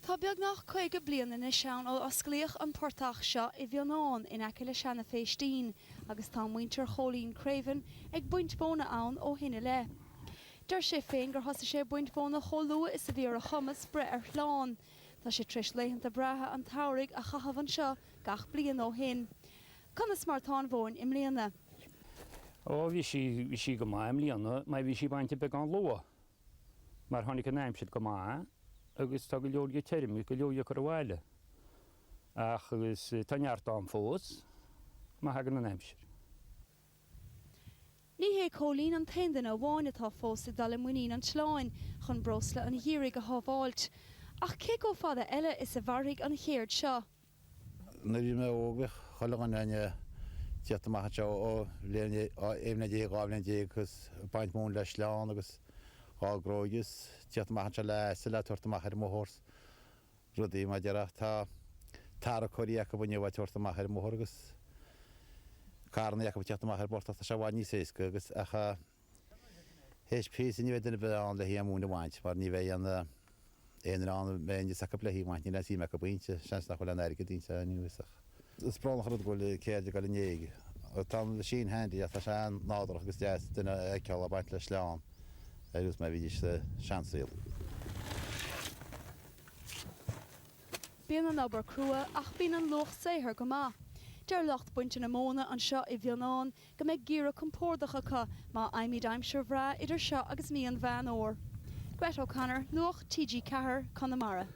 Tá beagnach 50 bliain anois ann ó osclaíodh an portach seo i bhFionán, in aice le Seanadh Phéistín, agus tá muintir Chóilín Creaven ag baint mhóna ann ó shin i leith. Deir sé féin gur thosaigh sé ag baint mhóna chomh luath is a bhí ar a chumas breith ar shláin. Tá sé tar éis laethanta breátha an tsamhraidh a chaitheamh anseo gach bliain ó shin. Conas mar atá an mhóin i mbliana? Ó, bhí sí, bhí sí go maith i mbliana, mar bhí sí bainte beagán luath. mar tháinig an aimsir go maith agus tá go leor di tirim is go leor di curtha abhaile ach agus tá neart ann fós má thagann an aimsir. Ní hé Cóilín an t-aon duine amháin atá fós ag dul i muinín an tsleáin chun breosla an gheimhridh a shábháilt, ach cé comh fada eile is a mhairfidh an chéird seo? Nuair a bhí mé óg, bhíodh chuile dhuine in ann teacht amach anseo ó bhliain 11 déag, dhá bhliain déag agus ag baint mhóna le sleán agus dhá gróigeadh agus teacht amach anseo le asail a' tabhairt amach ar an mbóthar 's rudaí mar a déarfá ach tá tarracóirí acub inniu a' tabhairt amach ar an mbóthar agus carranaí acub a' teacht amach ar an bportach, tá sé i bhfad níos éasca agus ach. Théis píosa ní bheidh duine ar bith ann le hí a mhúineadh a bhaint, mar ní bheidh aon duine ann a mbeidh aon fhios acu le hí a bhaint, níl aon suim acu inti, seans nach bhfuil aon airgead inti ar aon nós ach is brónach an rud go bhfuil ceird ag dul in éag. Tá an machine handy ach tá sé an-nádúrach agus deas duine a fheiceáil ag baint le sleán, ar nós mar a bhídís sa seansaol. Bíonn an obair crua ach bíonn an luach saothair go maith. Deir lucht bainte na móna anseo i bhFionán go mbeidh geimhreadh compordach acu má fhaighimid aimsir bhreá idir seo agus mí Mheán Fhómhair. Grett O'Connor, Nuacht TG4, Conamara.